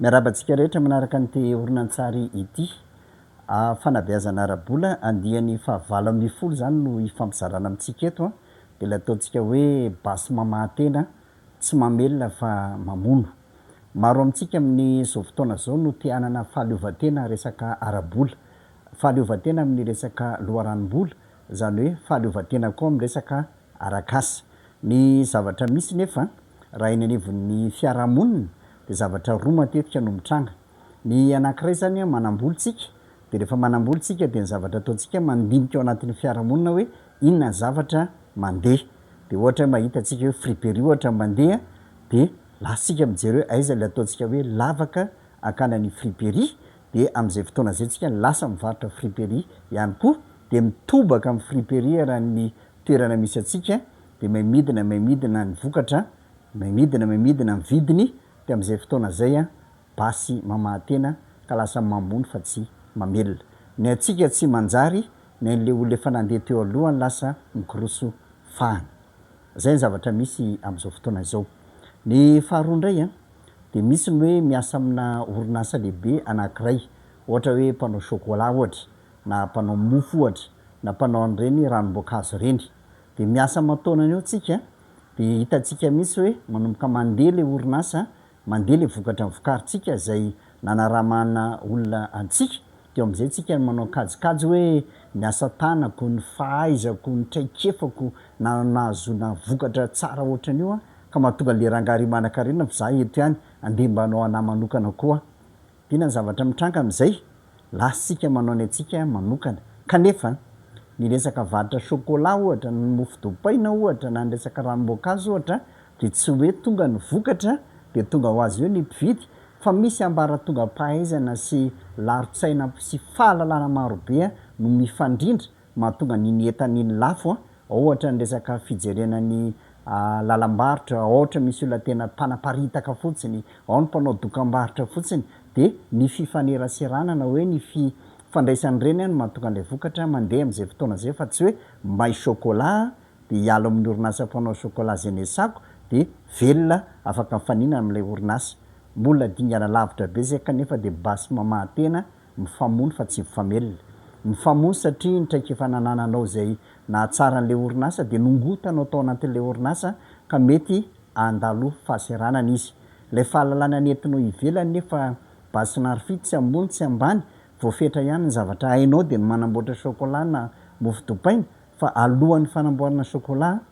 Miarahaba antsika rehetra manaraka an'ity horonantsary ity. Fanabeazana ara-bola andiany fahavalo ambin'ny folo izany no hifampizarana amintsika eto, dia ilay ataontsika hoe basy mamahan-tena, tsy mamelona fa mamono. Maro amintsika amin'izao fotoana izao no te hanana fahaleovantena resaka ara-bola, fahaleovantena amin'ny resaka loharanom-bola, izany hoe fahaleovantena koa amin'ny resaka arak'asa. Ny zavatra misy nefa, raha eny anivon'ny fiarahamonina, dia zavatra roa matetika no mitranga. Ny anankiray izany, manam-bola isika, dia rehefa manam-bola isika dia ny zavatra ataontsika mandinika ao anatin'ny fiarahamonina hoe inona ny zavatra mandeha. Dia ohatra hoe mahita antsika hoe friperie ohatra no mandeha, dia lasa isika mijery hoe aiza ilay ataontsika hoe lavaka hankany any friperie, dia amin'izay fotoana izay isika lasa mivarotra friperie ihany koa, dia mitobaka amin'ny friperie raha ny toerana misy antsika dia may midina may midina ny vokatra, may midina may midina ny vidiny dia amin'izay fotoana izay basy mamaha-tena ka lasa mamony fa tsy mamelona. Ny antsika tsy manjary, ny an'ilay olona efa nandeha teo aloha no lasa mikoroso fahana. Izay ny zavatra misy amin'izao fotoana izao. Ny faharoa indray dia misy ny hoe miasa amina orinasa lehibe anankiray, ohatra hoe mpanao chocolat ohatra, na mpanao mofo ohatra, na mpanao an'ireny ranom-boankazo ireny. Dia miasa aman-taonany eo tsika, dia hitantsika mihitsy hoe manomboka mandeha ilay orinasa, mandeha ilay vokatra vokarintsika izay nanaramana olona antsika, dia eo amin'izay tsika no manao kajikajy hoe ny asa tanako, ny fahaizako, ny traikefako na nahazoana vokatra tsara ohatran'io aho, ka mahatonga an'ilay rangahy ry manankarena fa za eto ihany, andeha mba hanao anah manokana koa aho. Inona ny zavatra mitranga amin'izay? Lasantsika manao ny antsika manokana. Kanefa, ny resaka varotra chocolat ohatra, ny mofo dopaina ohatra, na ny resaka ranom-boankazo ohatra, dia tsy hoe tonga ny vokatra dia tonga ho azy eo ny mpividy, fa misy ambaratongam-pahaizana sy laron-tsaina sy fahalalana marobe no mifandrindra mahatonga ny ny entana iny lafo ohatra ny resaka fijerena ny lalam-barotra ohatra misy olona tena mpanaparitaka fotsiny ao ny mpanao dokambarotra fotsiny dia ny fifaneraserana na hoe ny fi fandraisana ireny no mahatonga an'ilay vokatra mandeha amin'izay fotoana izay fa tsy hoe may chocolat aho dia hiala amin'ny orinasa mpanao chocolat izay nesako dia velona afaka mifaninana amin'ilay orinasa mbola dingana lavitra be izay kanefa dia basy mamaha tena Mifamono fa tsy mifamelona. Mifamono satria ny traikefa nanananao izay nahatsara an'ilay orinasa dia nongotanao tao anatin'ilay orinasa ka mety handalo fahasahiranana izy. Ilay fahalalana nentinao ivelany nefa basy na rfy tsy ambony tsy ambany, voafetra ihany ny zavatra hainao dia ny manamboatra chocolat na mofo dopaina fa alohan'ny fanamboarana chocolat,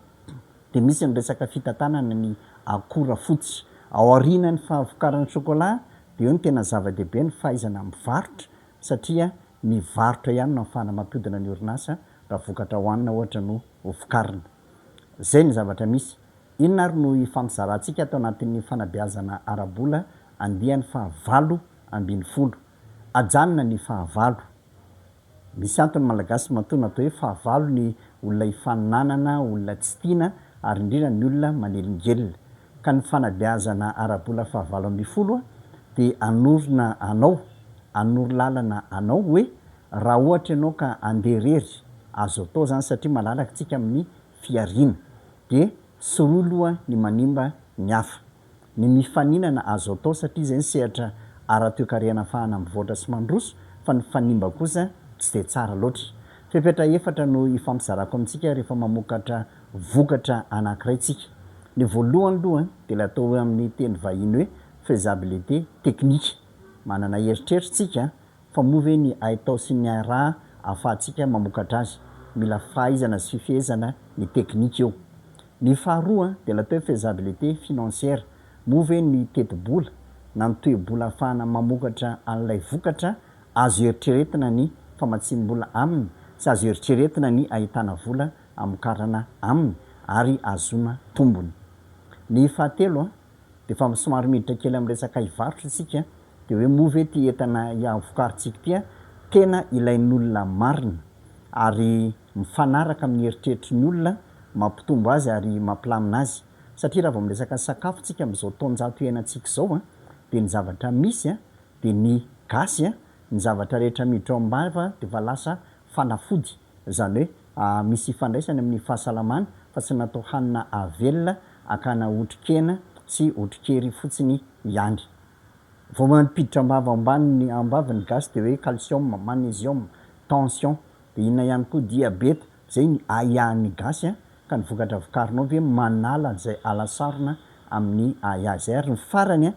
dia misy ny resaka fitantanana ny akora fototra. Ao aorianan'ny fahavokaran'ny chocolat dia eo no tena zava-dehibe ny fahaizana mivarotra satria ny varotra ihany no ahafahana mampiodina ny orinasa raha vokatra hohanina ohatra no ho vokarina. Izay ny zavatra misy. Inona ary no hifampizarantsika ato anatin'ny fanabeazana ara-bola andiany fahavalo ambin'ny folo? Ajanona ny fahavalo. Misy antony malagasy matoa natao hoe fahavalo ny olona hifaninanana, olona tsy tiana ary indrindra ny olona manelingelina. Ka ny fanabeazana ara-bola fahavalo ambin'ny folo dia hanorina anao, hanoro lalana anao hoe raha ohatra ianao ka handeha irery, azo atao izany satria malalaka isika amin'ny fihariana. Dia sorohy loha ny manimba ny hafa. ny mifaninana azo atao satria izay ny sehatra ara-toekarena ahafahana mivoatra sy mandroso fa ny fanimba kosa tsy dia tsara loatra. Fepetra efatra no hifampizarako amintsika rehefa mamokatra vokatra anankiray tsika. Ny voalohany loha dia ilay atao hoe amin'ny teny vahiny hoe faisabilité technique. Manana eritreritra tsika fa moa ve ny haitao sy ny hairaha ahafahantsika mamokatra azy. Mila fahaizana sy fifehezana ny teknika io. Ny faharoa dia natao faisabilité financière, moa ve ny tetibola na ny toe-bola ahafahana mamokatra an'ilay vokatra azo eritreretina ny famatsiam-bola aminy sy azo eritreretina ny ahitana vola hamokarana aminy ary ahazoana tombony. Ny fahatelo dia efa somary miditra kely amin'ny resaka hivarotra isika dia hoe moa ve ity entana vokarintsika ity tena ilain'olona marina ary mifanaraka amin'ny eritreritry ny olona, mampitombo azy ary mampilamina azy. Satria raha vao miresaka sakafo tsika amin'izao taonjato iainantsika izao dia ny zavatra misy dia ny gasy ny zavatra rehetra miditra ao am-bava dia efa lasa fanafody, izany hoe misy ifandraisany amin'ny fahasalamana fa tsy natao hanina avelona hakana otrikena sy otrikery fotsiny ihany. Vao mampiditra am-bava ambany am-bava ny gasy dia hoe calcium, magnesium, tension, Dia inona ihany koa dia beta? Izay ny ahiahy ny gasy a! Ka ny vokatra vokarinao ve manala an'izay ala sarona amin'ny ahiahy izay? Ary ny farany a!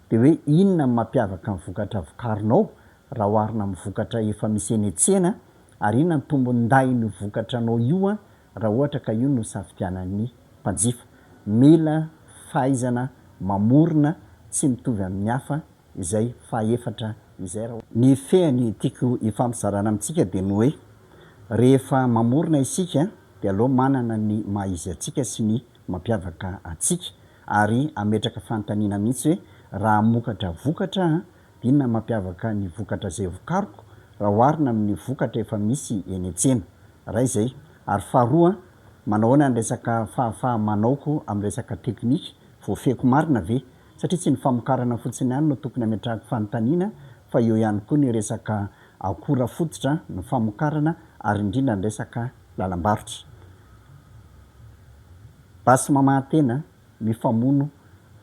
Dia hoe inona ny mampiavaka ny vokatra vokarinao raha oharina amin'ny vokatra efa misy eny an-tsena? Ary inona ny tombon-dahin'io vokatra anao io a! Raha ohatra ka io no safidianan'ny mpanjifa. Mila fahaizana mamorona tsy mitovy amin'ny hafa izay fahaefatra izay raha. Ny fehiny tiako hifampizarana amintsika dia ny hoe, rehefa mamorona isika dia aleo manana ny maha izy antsika sy ny mampiavaka antsika ary hametraka fanontaniana mihitsy hoe, raha hamokatra vokatra aho dia inona no mampiavaka ny vokatra izay vokariko raha oharina amin'ny vokatra efa misy eny an-tsena? Iray izay. Ary faharoa, manahoana ny resaka fahafaha-manaoko amin'ny resaka teknika, voafehiko marina ve? satria tsy ny famokarana fotsiny ihany no tokony hametrahako fanontaniana fa eo ihany koa ny resaka akora fototra, ny famokarana ary indrindra ny resaka lalam-barotra. Basy mamaha tena, mifamono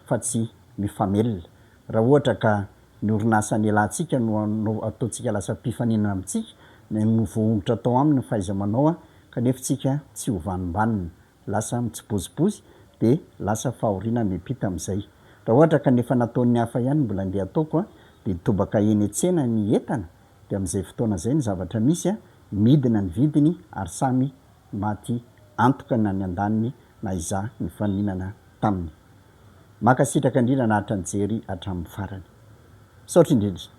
fa tsy mifamelona. Raha ohatra ka ny orinasa nialantsika no ataontsika lasa mpifaninana amintsika, na no voahongotra tao aminy ny fahaiza-manao kanefa tsika tsy hovanimbànina. lasa mitsibozibozy dia lasa fahoriana miampita amin'izay. Raha ohatra ka ny efa nataon'ny hafa ihany no mbola andeha ataoko dia mitobaka eny an-tsena ny entana dia amin'izay fotoana izay ny zavatra misy midina ny vidiny ary samy maty antoka na ny andaniny na izaho nifaninana taminy. Mankasitraka indrindra an'Atra nijery hatramin'ny farany. Misaotra indrindra.